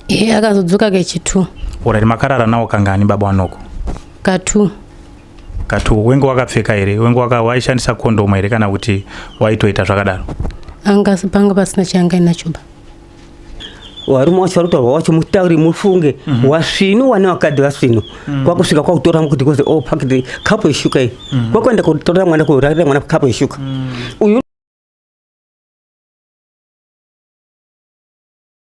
He akazodzoka kechitu. Alright makarara nawo kangani baba wanoko? Katu. Katu wenge wakapfeka here? Wenge waka waishandisa condom here kana kuti waitoita zvakadaro? Anga panga pasina changa inacho ba. Warume wacho varutaurwa wacho mutauri mufunge mm -hmm. wasvinu wane wakadhi vasvinu mm -hmm. kwakusvika kwakutora mukuti kozi oh pakiti kapo yeshuka iyi mm -hmm. kwakuenda kutorera mwana kurarira mwana kapo yeshuka mm -hmm. uyu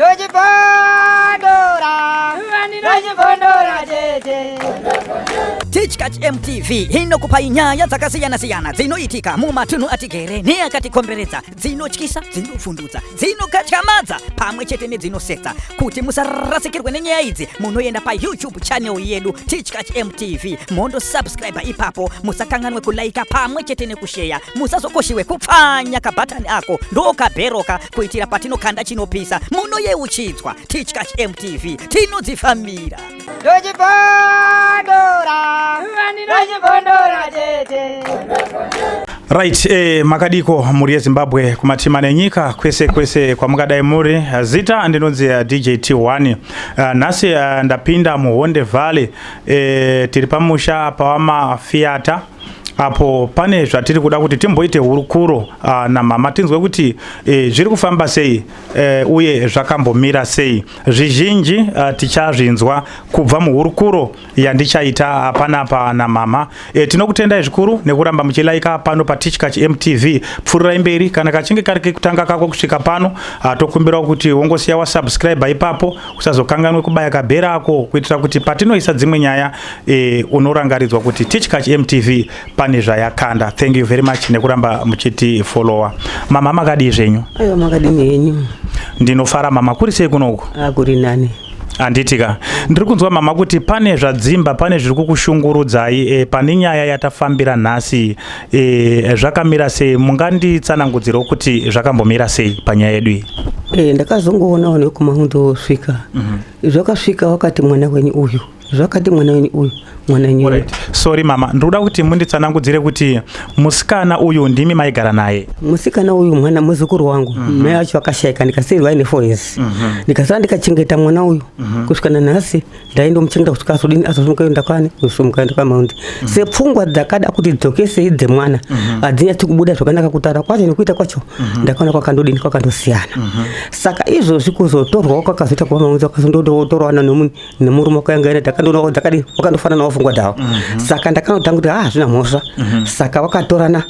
Doji Pandora! Doji Pandora, JJ! Teachkach MTV inokupai nyaya dzakasiyana-siyana dzinoitika mumatunhu atigere neakatikomberedza dzinotyisa dzinopfundutsa dzinokatyamadza pamwe chete nedzinosetsa kuti musarasikirwe nenyaya idzi munoenda payoutube channel yedu tichkach mtv mondo subscribe ipapo musakanganwe kulaika pamwe chete nekusheya musazokoshiwe kupfanya kabhatani ako ndokabheroka kuitira patinokanda chinopisa munoyeuchidzwa tichkach mtv tinodzifambira Right, eh, makadiko muri yezimbabwe kumatima nenyika kwese kwese kwamungadai muri eh, zita ndinonzi eh, DJT1 eh, nhasi ndapinda muhonde valley eh, tiri pamusha pawamafiata apo pane zvatiri kuda kuti timboite hurukuro ah, namama tinzwe kuti eh, zviri kufamba sei Eh, uye zvakambomira sei zvizhinji eh, tichazvinzwa kubva muhurukuro yandichaita hapana pana mama eh, tinokutendai zvikuru nekuramba muchilaika pano patichkach mtv pfururai mberi kana kachinge kari kekutanga kako kusvika pano ah, tokumbirawo kuti wongosiya wasubscribe ipapo usazokanganwe kubaya kabhera ako kuitira kuti patinoisa dzimwe nyaya unorangaridzwa kuti tichkach mtv pane zvayakanda thank you very much nekuramba muchiti follower mama makadii zvenyu aiwa makadini henyu ndinofara mama kuri sei kunoku ah, kuri nani handitika ndiri kunzwa mama kuti pane zvadzimba pane zviri kukushungurudzai e, pane nyaya yatafambira nhasi e, zvakamira sei munganditsanangudzirawo kuti zvakambomira sei panyaya yedu iyi e, ndakazongoonawo nekumaundo wosvika mm -hmm. zvakasvika wakati mwana wenyu uyu zvakati mwana wenyu uyu mwana wenyu right. sorry mama ndikuda kuti munditsanangudzire kuti musikana uyu ndimi maigara naye musikana uyu mwana muzukuru wangu mm -hmm. mai acho akashaika ndikasiirwa ine four years mm -hmm. ndikasara ndikachengeta mwana uyu mm -hmm. kusvika nanhasi ndaindomuchengeta kusvika azodini azosumuka enda kwani kusumuka enda kwamaundi mm -hmm. sepfungwa dzakada kuti dzokesei dzemwana mhm. hadzinyatsi mm -hmm. kubuda zvakanaka kutaura kwacho nekuita kwacho mm -hmm. ndakaona kwakandodini kwakandosiyana mm -hmm. saka izvozvi kuzotorwawo kwakazoita kwamaundi kwakazondotorwana nomunhu nemurume wakaengaira takandoona dzakadi wakandofanana wafungwa dhawa mhm. saka ndakanotanga kuti ha ah, zvina mhosva mhm. saka wakatorana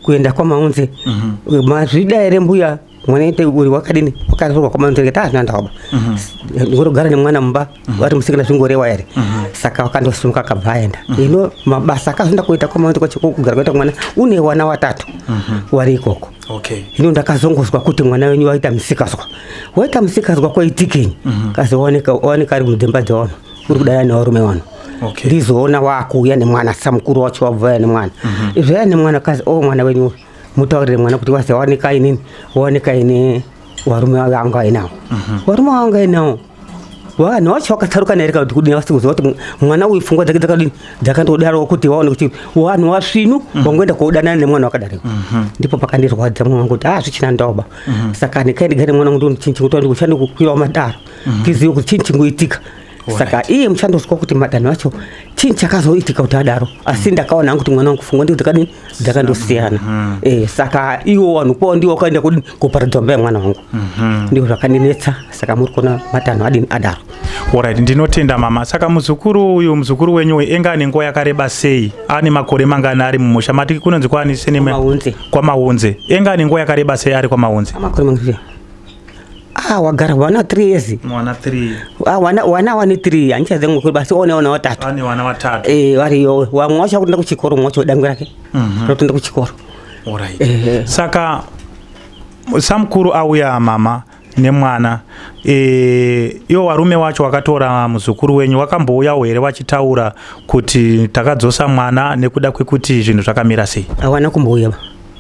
kuenda kwamaunze mhm. mazvida here mbuya mwana ite uri wakadini wakatorwa kwamaunze kati hazvina ah, ndawaba ngorogara nemwana mumba vari musikana zvingorewa here saka wakandosimuka akabva aenda ino mabasa akazoenda kuita kwamaunze kwachekugara kwaita mwana une wana watatu wari ikoko Okay. Hino ndakazongozwa kuti mwana wenyu waita musikazwa. Waita musikazwa kwaitikenyi? Mm -hmm. Kasi waoneka waoneka ari mudhemba dzawano. Uri kudaya nevarume wano. Okay. Ndizoona wakuuya nemwana samukuru wacho wabvaya nemwana. Mm -hmm. Izvaya nemwana kasi o oh, mwana wenyu mutaurire mwana kuti wazi waoneka inini waoneka ini warume wanga ainawo. Mm -hmm. Warume wanga ainawo. vanhu vacho vakatsarukana here kana kuti kudini vasi kuziva kuti mwana uyu pfungwa dzake dzakadini dzakandodaro kuti vaone kuti vanhu vasvinu mhm. vangoenda kodanana nemwana wakadari mhm. ndipo pakandirwadza mwana wangu kuti ha ah, zvichina ndoba mhm. saka nekai ndigare mwana wangu ndoni chinhu chingutaura ndiko chandi kukwirawo madaro tizive kuti chinhu chingoitika saka iye muchandozwa kuti madanho acho chinhu chakazoitika kuti adaro asi ndakaona hangu kuti mwana wangu pfungwa ndiko dzakadini dzakandosiyana mm -hmm. e, saka iwo vanhu kwao ndiwo wakaenda kudi kuparadza mba yemwana wangu mm -hmm. ndiwo zvakandinetsa saka muri kuona matanho adini adaro orit ndinotenda mama saka muzukuru uyu muzukuru wenyu uyu enga ane nguva yakareba sei ane makore mangani ari mumusha mati kunonzi kwaani senemaunze kwamaunze enga ane nguva yakareba sei ari kwamaunze Ah, wagara wana 3 years. Mwana 3. Ah, wana wana wani 3. Ancha zengu kuri basi one wana watatu. Ani wana watatu. Eh, wari yo. Wa mwasha kutenda kuchikoro mwacho dangu rake. Mhm. Mm Rotenda kuchikoro. Alright. Eh, eh. Saka samkuru auya mama nemwana e, iwo warume wacho wakatora muzukuru wenyu wakambouyawo here wachitaura kuti takadzosa mwana nekuda kwekuti zvinhu zvakamira sei hawana kumbouya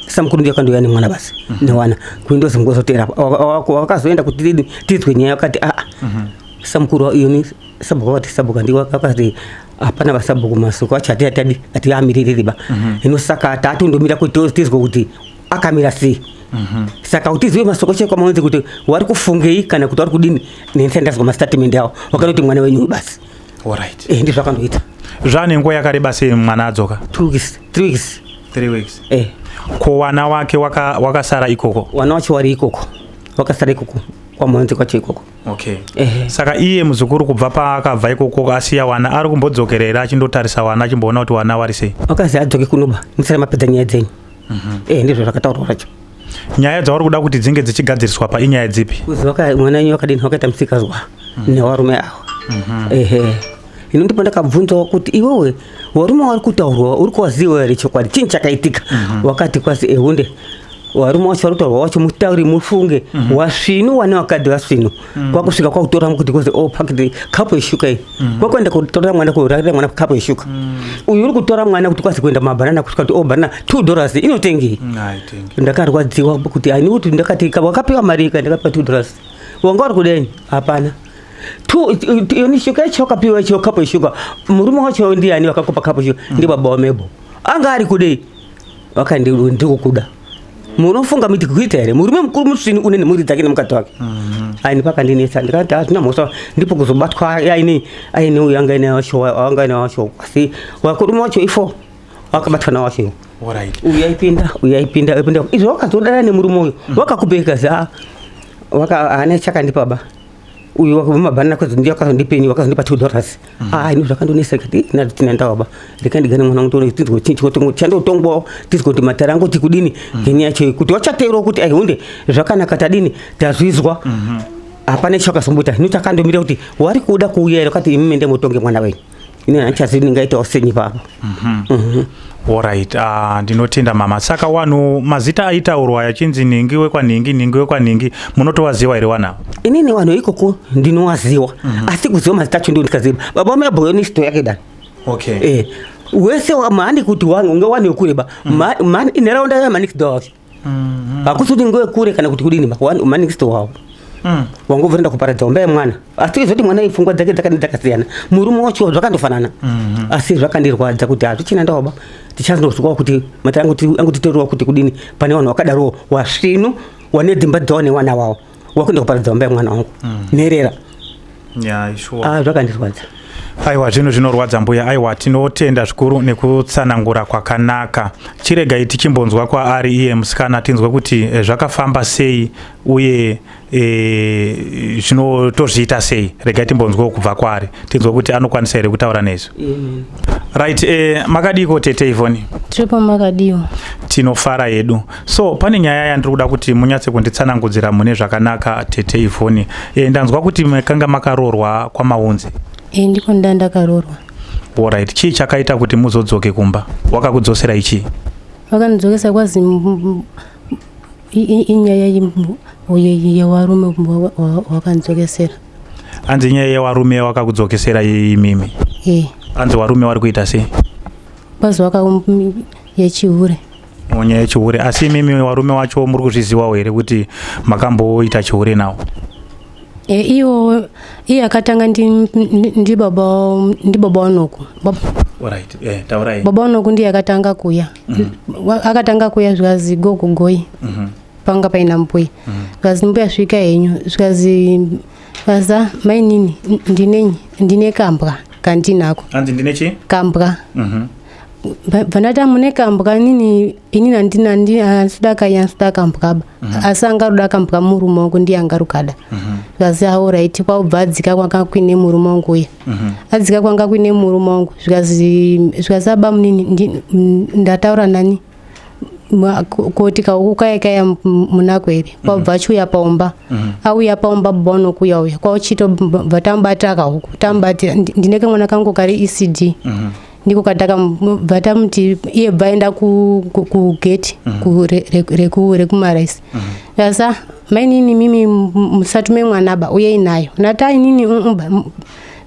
Sasa mkuru ndio kando yani mwana basi mm -hmm. ni wana kuindo simgo zote hapo wakazoenda kutidi tizwe nyaya wakati ah mm -hmm. sasa mkuru hiyo ni sabu wakati sabu kandi wakati hapana vasabu kumasuko acha ati ati ati amiriri ba mm -hmm. ino saka tatu ndo mira kuti tizwe kuti akamira si mm -hmm. saka kuti ziwe masoko chekwa maonze kuti wari kufungei kana kuti wari kudini nense ndazwa mastatement yao wakanoti mwana wenyu basi mm Alright. Eh, ndizvo akandoita. Zvane nguva yakareba sei mwana adzoka? 2 weeks, 3 weeks. 3 weeks. Eh. Ko wana wake waka wakasara ikoko. Wana wacho wari ikoko. Wakasara ikoko. Kwa mwanzi kwacho ikoko. Okay. Eh. Saka iye muzukuru kubva paakabva ikoko asiya wana ari kumbodzokerera achindotarisa wana achimboona kuti wana wari sei. Wakazi adzoke kunoba. Musara mapedza nyaya dzenyu. Mhm. Mm eh, ndizvo zvakataurwa zvacho. nyaya dzauri kuda kuti dzinge dzichigadziriswa pa inyaya dzipi kuziva ka mwana wenyu wakadini wakaita musikazwa mm. newarume awa mm -hmm. ehe ino ndipo ndakabvunzawo kuti iwewe warume wari kutaurwa uri kuwaziwa here chokwadi chinyi chakaitika mm -hmm. wakati kwasi ehunde warume wacho vari kutaurwa wacho mutauri mufunge mm -hmm. wasvinu wane wakadhi vasvinu mm. kwakusvika kwakutora kuti kozi oh pakiti kapu yeshuka iyi mm. kwakuenda kutora mwana kuratira mwana kapu yeshuka mm. uyu uri kutora mwana kuti kwazi kuenda mabhanana kusvika kuti oh bhanana two dollars inotengei mm, ndakarwadziwa kuti ani kuti ndakati wakapiwa mari ka ndakapiwa two dollars wanga uri kudeni hapana yoni shuka yacho wakapiwa icho kapu yeshuka murume wacho ndiani vakakupa kapu yeshuka mm. ndibaba wamebo anga ari kudei wakandi ndikukuda munofunga miti kuita here murume mukuru musvini une nemhuri dzake nemukadzi wake mhm. aini pakandinetsa ndikati hatina mhosva ndipo kuzobatwa aini aine uyo anga ine wacho anga aine wacho asi wakurume wacho ifo wakabatwa nawacho uyaipinda uyaipinda uyaipinda izvo wakazodana nemurume uyo mhm. wakakubeka za waka ane chakandipa ba uyu wakumabhanana kwazi ndiye wakazondipeni wakazondipa two dollars mm. ah ini zvakandonesa kuti nati tina ndawaba reka ndigane mwana wangu tione tinzwe chinyi chikotongo chandotongwawo tinzwe kuti matara angu kuti kudini mm. ngenyaya yacho kuti wachateerwa kuti aihunde zvakanaka tadini tazvizwa mm -hmm. hapana chakazomboita hino takandomira kuti wari kuda kuuya ere kati imi mende mutonge mwana wenyu ini handichazivi ndingaitawo senyi papa mhm. mhm. orit ah, ndinotenda mama saka wanhu mazita aitaurwa yachinzi nhingi wekwanhingi nhingi wekwanhingi munotowaziwa here wanavo inini wanhu ikoko ndinowaziwa mhm. asi kuziva mazita acho ndo ndikaziva baba vamabhoyo nesisto yake dani okay eh, wese mani kuti wanhu unge wanhu wekureba mani inharaunda yamanikidoa mm-hmm. hakusi kuti ngoe kure kana kuti kudini manixto wawo mm. wangobvira ndakuparadza umba yemwana asi tizoti mwana ipfungwa dzake dzakadi dzakasiyana murume wacho zvakandofanana mm-hmm. asi zvakandirwadza kuti hazvichina ndaoba tichazonozwawo kuti matira angotitoriwa kuti kudini pane vanhu vakadarowo wasvinu wane dzimba dzawo newana wawo wakuenda kuparadza vamba yemwana wangu mm. nherera yeah, sure. ah, zvakandirwadza aiwa zvinhu zvinorwadza mbuya aiwa tinotenda zvikuru nekutsanangura kwakanaka chiregai tichimbonzwa kwaari iye musikana tinzwe kuti eh, zvakafamba sei uye eh, zvino tozviita sei regai timbonzwawo kubva kwaari tinzwe kuti anokwanisa here kutaura nezvi Right, eh, makadiko tete Ivoni? Tiripo makadiwo. Tinofara hedu. So pane nyaya yandiri kuda kuti munyatse kunditsanangudzira mune zvakanaka tete Ivoni. Eh, ndanzwa kuti makanga makarorwa kwamaunzi. Eh, ndiko nda ndakarorwa. Alright, chii chakaita kuti muzodzoke kumba? Wakakudzosera ichi? Wakandidzokesa kwazi inyaya yevarume wakandidzokesera. hanzi nyaya yewarume wakakudzokesera yei mimi eh. hanzi warume wari kuita sei bazi waka yechihure mwenye yechihure asi imimi warume wacho muri kuzviziwawo here kuti makamboita chihure nawo e, iwo iye akatanga ndibaba wanoku right. eh, baba wanoku ndiye akatanga kuya mm -hmm. akatanga kuya zvikazi go kugoi mm -hmm. panga paina mbuya zvikanzi mm. mbuya svika henyu zvikanzi vaza mainini ndinenyi ndine kambwa kandinako anzi ndine chi kambwa mhm. vanati amune kambwa nini inini andina andisuda kai andisuda kambwaba mhm. asi angaruda kambwa murume wangu ndiye angarukada mhm. zvikazi aorit kwaubva adzika kwanga kuine murume wangu uya adzika kwanga kuine murume wangu zvikazi aba munini ndataura nani kuti kaukukayakaya munako here mm. kwabva achiuya paumba mm. auya paumba bba unokuya uya kwauchito bva tamubatira kahuku tamubatira ndine kamwana kangu kari ecd mm-hmm. ndiko katakabva tamuti iye bva aenda kugeti mm-hmm. rekumaraisi mm-hmm. asa mainini mimi musatume mwana ba uye inayo natainini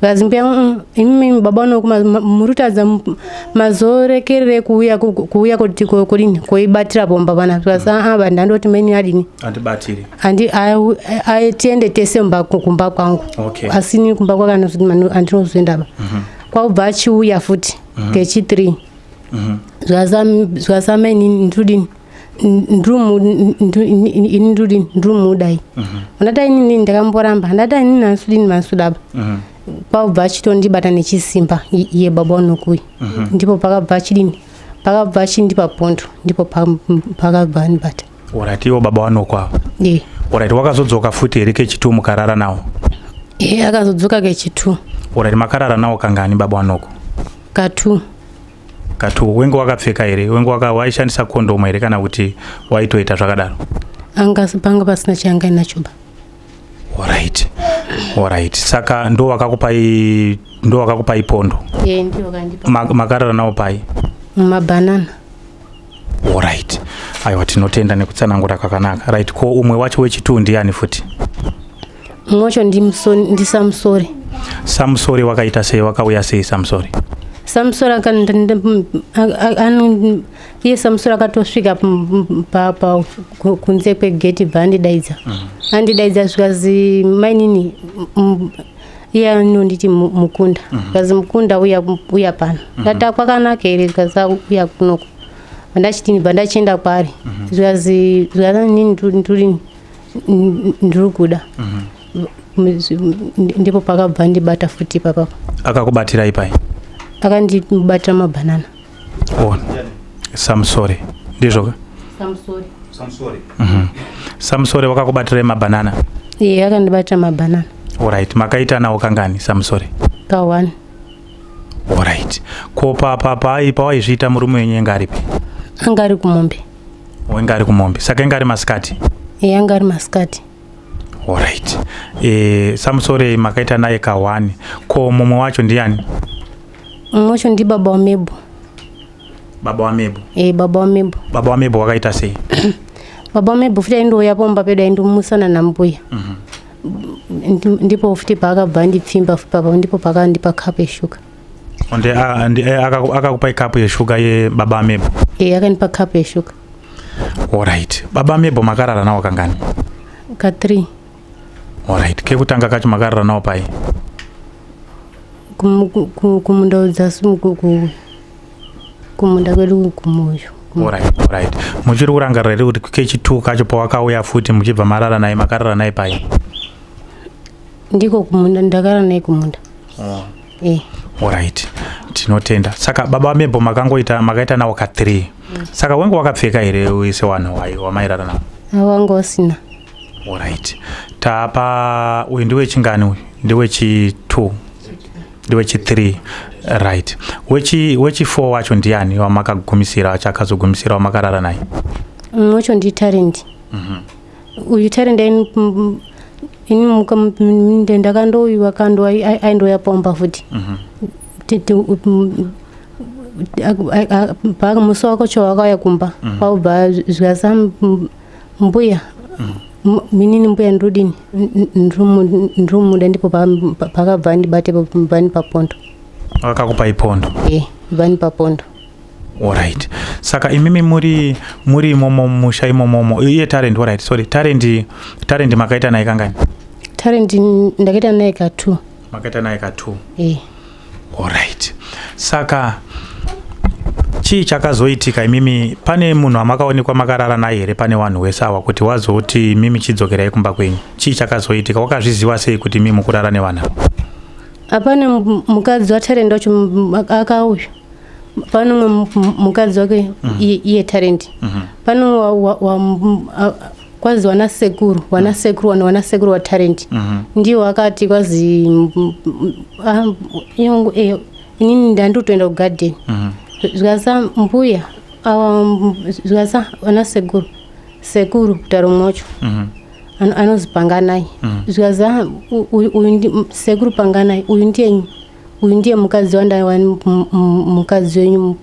zikazi mbuya "Mm, imimi baba unoku ma- ma- muri kutadza m- mazorekerere kuuya ku- kuuya kuti ko- kudini koibatira bomba vana zikazi aa vanhu ndandoti meni adini andibatiri Andi- awu- ayi- tiende tese mumba ku- kumba kwangu Okay. asi ni kumba kwake anozoti manu- andinozoendaba kwakubva achiuya futi kechi three zvasameni nditodini ini ndodini ndrumudai mhm. andata inini ndakamboramba andata inini hansudini mansudaba mhm. kwakubva achitondibata nechisimba iye baba unokuyi mhm. ndipo pakabva achidini pakabva achindipa pondo ndipo pakabva anibata orati iwo baba wanokwavo e orati wakazodzoka futi here kechitu mukarara nawo e akazodzoka kechitu orati makarara nawo kangani baba wanoko katu kati wenge wakapfeka here wenge waishandisa kondomu here kana kuti waitoita zvakadaro anga panga pasina chayanga inacho ba orit orit saka ndo wakakupai ndo wakakupai pondo yeah, makarara nawo pai mumabhanana orit aiwa tinotenda nekutsanangura kwakanaka right ko umwe wacho wechituu ndiani futi Mumwe wacho ndiSamusori. Samusori wakaita sei? Wakauya sei Samusori? Samusori iye Samusori akatosvika kunze kwegeti bva andidaidza. Mm. Andidaidza zvikazi mainini iye anonditi mukunda zvikazi mhm. mukunda uya pano mhm. ndati kwakanaka here zvikazi uya kunoko ndachitini bva ndachienda kwaari zvikazi mhm. zvikazi nini nduri ndiri kuda mhm. ndipo pakabva ndibata futi ipapapa akakubatira ipai akandibatira mabhanana oh, samsori ndizvoka samsori mhm. samsori wakakubatira mabhanana iye akandibatira mabhanana orit makaitanawo kangani samsori ka one Alright. Ko pa pa pa ipa waizviita murume wenyu enga aripi? Anga ari kumombe. Wenga ari kumombe. Saka enga ari masikati. Eh, anga ari masikati. Alright. Eh, Samsore makaita naye kawani. Ko mumwe wacho ndiani? Mumwe wacho ndi baba wa Mebo. Baba wa Mebo. Eh, baba wa Mebo. Baba wa Mebo wakaita sei? baba wa Mebo futi aindouya pomba pedu aindomusana na mbuya. Mhm. Mm ndipo futi paakabva andipfimba papa ndipo paakandipa kapu yeshuga onde eh, akakupa ikapu yeshuga yebaba amebo e eh, akandipa kapu yeshuga orit baba amebo makarara nawo kangani ka three orit kekutanga kacho makarara nawo pai kumundaudza kumunda kwedu kumoyo orit orit muchiri kurangarira here kuti kechitu kacho pawakauya futi muchibva marara naye makarara naye pai ndiko kumunda ndakarara naye kumunda oh. eh. orit tinotenda saka baba vamebho makangoita makaita nawo ka three mm. saka wenge wakapfeka here uise wanhu wai wamairara nawo awanga usina orit tapa uyu ndiwechingani uyu ndiwechi two ndewechithree right wechi wechifour wacho ndiani wamakagumisira wacho akazogumisira wamakarara naye Mm, wacho nditarendi uyu tarendi aini mm, ini muka- mm, mm, nda- ndakandoiwa kando ai- ai- aindoya pomba futi Ti- ti- u- mm, a- a- a- pa musi wako cho wakauya kumba kwaubva zvikasa mbuya minini mbuya ndodini ndrumuda ndipo pakabva andibate vani papondo vakakupa ipondo e eh, vani papondo orit saka imimi muri muri imomo musha imomomo iye talent orit sorry talent talent makaita naye kangani talent ndakaita naye ka two makaita naye ka two e eh. Alright. Saka chii chakazoitika imimi pane munhu amakaonekwa makarara naye here pane wanhu wese awa kuti wazoti mimi chidzokerai kumba kwenyu chii chakazoitika wakazviziva sei kuti mimi mukurara nevanhu ava hapane mukadzi watarenda wacho akauya pane umwe mukadzi wake mhm. iye tarendi mhm. pane umwe kwazi wana sekuru wana mm. sekuru wana wana sekuru watalent mm -hmm. ndiwo akati kwazi ah, eh, inini ndandutoenda kugarden mm -hmm. zvikasa mbuya um, zvikasa wana sekuru sekuru kutaro mwocho mm -hmm anozi panganai mm. zvikazi ah, sekuru panganai uyu ndiyenyu uyu ndiye mukadzi wandaiwa mukadzi wenyu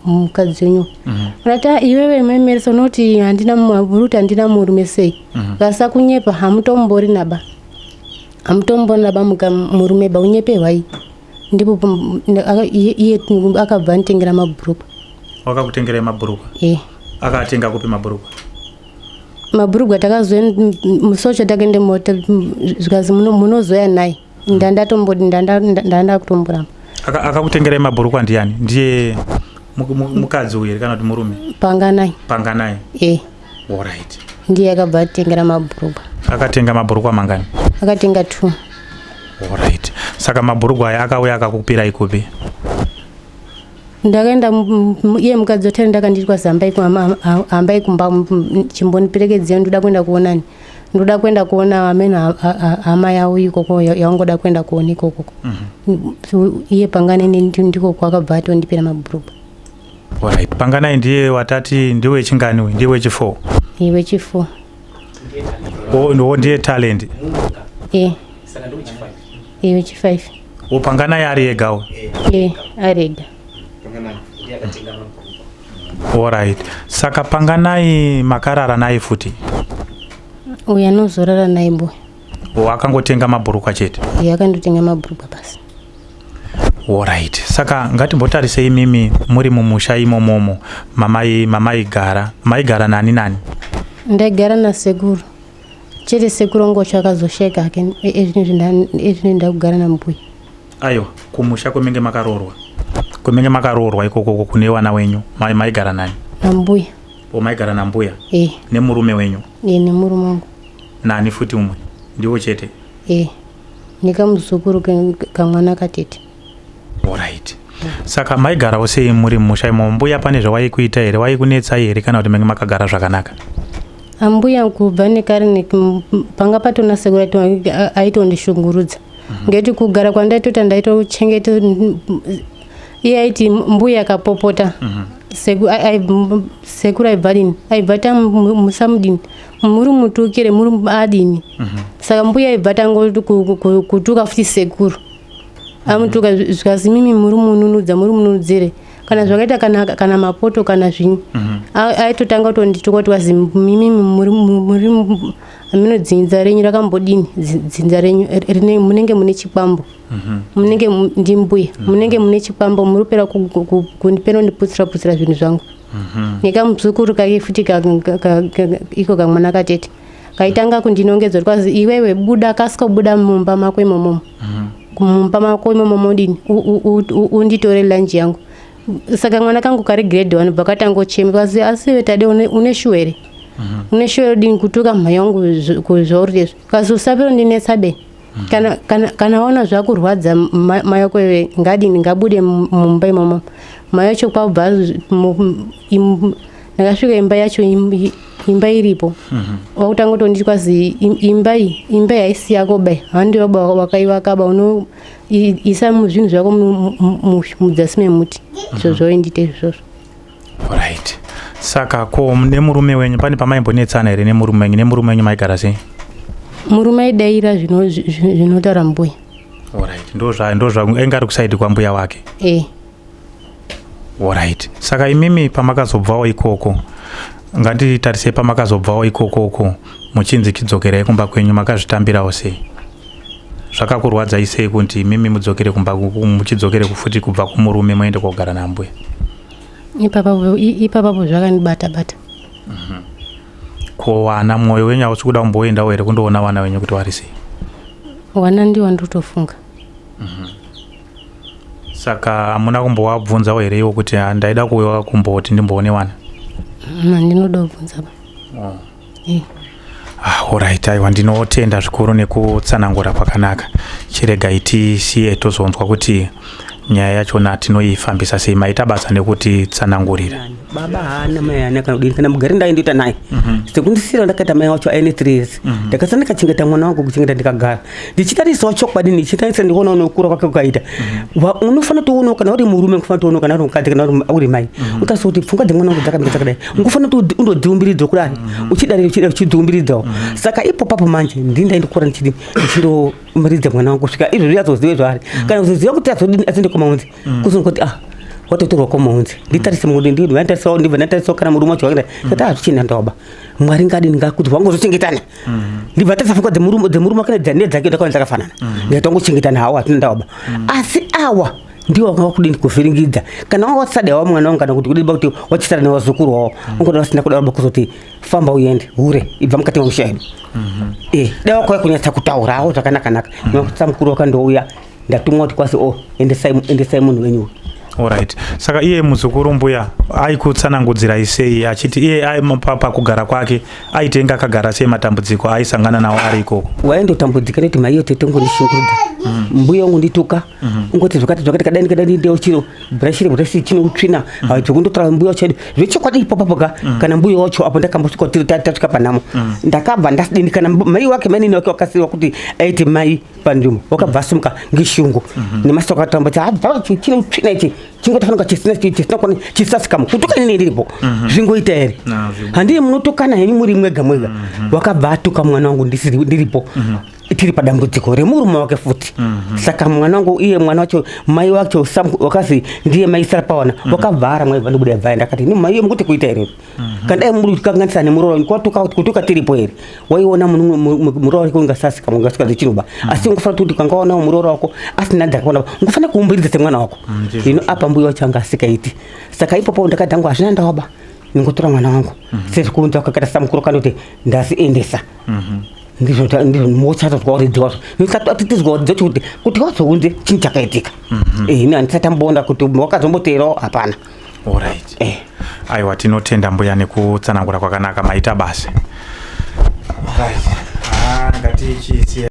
mukadzi wenyu mhm. unati ah, iwewe memeresa unoti handina muti handina murume sei mhm. vasa kunyepa hamutombori naba hamutombori naba murume ba unyepe hwai ndipo iye akabva anitengera mabhurukwa wakakutengerai mabhurukwa e akatenga kupi mabhurukwa mabhurukwa takazomusocha takaende mota zvikazi munozoya naye ndandakutomboramba akakutengerai mabhurukwa ndiani ndiye mukadzi uyu here kana kuti murume panganai panganai e orit ndiye akabva atengera mabhurukwa akatenga mabhurukwa mangani akatenga t orit saka mabhurukwa aya akauya akakupirai kupi ndakaenda iye mukadzi otari ndakandiitwa zamba iku hambai kumba chimboniperekedzei ndoda kuenda kuonani ndoda kuenda kuona ameno hama yavo ikoko yaungoda kuenda kuona ikoko mhm. iye pangane ndiko kwakabva atondipira mabhuruku right panganai ndiye watati ndiwe chinganiwe ndiwe chifour iwe chifour wo ndiye talent e iwe chifive wopanganai ari egawo e ari ega Alright. Saka panganai makarara naye futi? Uyu anozorara naye mbuya. O akangotenga mabhurukwa chete? Uyu akandotenga mabhurukwa basi. Alright. Saka ngatimbotarise imimi muri mumusha imomomo mamai mamai gara. Mai gara nani nani? Ndaigara na sekuru. Chete sekuru ngocho akazosheka hake ezvinoenda kugara na mbuya. Ayo kumusha kwemenge makaroorwa. Kwemenge makaroorwa ikoko kune wana wenyu mai maigara nani? Nambuya. O maigara nambuya? Eh. Nemurume wenyu? Eh, nemurume wangu. Nani futi umwe? Ndiwo chete? Eh. Nekamuzukuru kamwana katete. Alright. Saka maigarawo sei muri musha imo mbuya pane zvawaikuita here waikunetsa here kana kuti menge makagara zvakanaka? Ambuya kubva nekare panga patonasegura aitondishungurudza. ngeti kugara kwandaitota ndaitochengeta iye aiti mbuya akapopota mhm. sekuru aibva dini aibva ta musamudini muri mutukire muri adini mhm. saka mbuya aibva tangoti kutuka futi sekuru mhm. amutuka zvikanzi mimi muri mununudza muri mununudzire kana zvakaita kana, kana mapoto kana zvinyi aitotanga kutondituka kuti wazi mimi muri hameno dzinza renyu rakambodini dzinza renyu munenge mune chikwambo mhm. munenge ndimbuya mhm. munenge mune chikwambo muri kupera kundipeno ndiputsira putsira zvinhu zvangu mhm. nekamuzukuru kake futi iko kamwana katete kaitanga kundinongedzwa kwazi iwewe buda kasikobuda mumba mako imomomo mumba mako imomomo dini unditore lanji yangu saka mwana kangu kari grade one bva katangochema kazi asi vetade une shuwa here mhm. une shuwa yodini kutuka mhai yangu zvauri lezvi kazi usapiro ndinetsa be mhm. kana, kana, kana waona zvakurwadza mai wako iwe ngadini ngabude mumba imomo mai yacho kwabva ndakasvika imba yacho imba iripo mhm. wakutanga kutonditi kwazi imba iyi imba yaisi yako bai handi baba wakaivakaba isa zvinhu zvako mudzasi memuti izvo mhm. zvoindite izvozvo right saka ko nemurume wenyu pane pamaimbonetsana here nemurume wenyu nemurume wenyu maigara sei murume aidaira zvinotaura mbuya right ndo zvainge ari kusaidi kwambuya wake e. Alright. Saka imimi pamakazobvawo ikoko ngatitarisei pamakazobvawo ikoko uko muchinzi chidzokerai kumba kwenyu makazvitambirawo sei zvakakurwadzai sei kuti imimi mudzokere kumba muchidzokere kufuti kubva kumurume moende kogara nambuya ipapapo zvakanibata bata mhm. ko wana mwoyo wenyu hausi kuda kumboendawo here kundoona vana venyu kuti vari sei wana ndiwo ndiri kutofunga mhm. saka hamuna kumbowabvunzawo here iwo kuti ah, ndaida kuuya kumboti ndimboone wana handinoda mm, kubvunza ba oh. eh. ah, orit aiwa ndinotenda zvikuru nekutsanangura kwakanaka chirega itisiye tozonzwa kuti nyaya yachona tinoifambisa sei maita basa nekuti tsanangurira baba haana mai haana kana kudini kana mugari ndaindoita naye mhm. sekundisira ndakaita mai wacho aine three years mhm. ndakasana ndikachengeta mwana wangu kuchengeta ndikagara ndichitarisawo chokwadi ndichitarisa ndikuona unokura kwake kukaita mhm. unofanira toonao kana uri murume unofanira toonao kana uri mukadzi kana uri mai mhm. utarisa kuti pfungwa dzemwana wangu dzakamira dzakadai mhm. ngofanira kuti undodziumbiridza kudai uchidari uchidari uchidziumbiridzawo saka ipo papo manje ndini ndaindikura ndichidi ndichindomiridza mwana wangu kusvika izvozvi azozive zvaari kana kuzoziva kuti azodini aziende kwamaunzi kuzonga kuti ah watotorwa kwamaunzi nditarise mudi ndini vanditarisa ndibva ndatarisawo kana murume wacho waida kuti azvichina ndoba mwari ngadini ngakuti wangozochengetana mm-hmm. ndibva tasafuka dzemurume wake nedzanee dzake ndakaona dzakafanana mm-hmm. ndaita wangochengetana hawo hatina ndawaba mm-hmm. asi awa ndiwo wanga wakudini kuvhiringidza kana wanga watisada wa mwana wangu kana kuti kudini kuti wachisada newazukuru wawo ungoda vasina kuda vaba kuzoti famba uende hure ibva mukati memusha yedu e dai wakauya kunyatsa kutaurawo zvakanakanaka mwana kutisa mukuru wakandouya ndatumwa kuti kwasi o oh, endesai munhu wenyu Alright. Saka iye muzukuru mbuya aikutsanangudzira isei achiti iye pakugara kwake aitenga akagara sei matambudziko aisangana nawo ari ikoko. Waindotambudzika nekuti maiyo tete ngondishungurudza. Mm. Mbuya wangu ndituka mm-hmm. ungoti zvakati zvakati kadai kadai ndeo chiro brashire brashire chino utsvina mm. ah, zvekundotora mbuya chaido zvechokwadi ipapo ka mm. kana mbuya wacho apo ndakambosvika tiri tasvika panhamo ndakabva ndasidini kana mai wake mainini wake wakasiiwa kuti aiti mai pandimo wakabva asumuka ngeshungu mhm. nemasoko atoramba kuti chine utsvina ichi chingotofanika chisinakona chisasikamu kutuka ini ndiripo mhm. zvingoita here handiye munotokana henyu muri mwega mwega mhm. wakabva atuka mwana wangu ndiripo tiri padambudziko remurume wake futi saka mwana wangu iye mwana wacho mai wacho wakazi ndiye maisara pawana wakabva ara mwai vandibuda yabvaenda akati ni maiye mukuti kuita here Mhm. Kanda muri kukanganisa nemuroora kwatuka kutuka tiripo here waiona muroora wako ungasasika ungasika zvichinuba mhm. asi ungafanira kuti ukangaona muroora wako asina dzakaona ungafanira kuumbiridza semwana wako ino mm, apa mbuya wacho anga asikaiti saka ipopo ndakadhangwa hazvina ndawaba ndingotora mwana wangu mhm. sezvikunza kakata samukuru kana kuti ndasiendesa ndizvo ndizvo motsatozwa uridzi wazvo ndisatizwa uridzi wacho kuti kuti wazounze chinhu chakaitika ini handisati amboona kuti wakazomboteerawo hapana Alright. Eh. Aiwa tinotenda mbuya nekutsanangura kwakanaka maita basa. Alright. Ah, ngati chisi.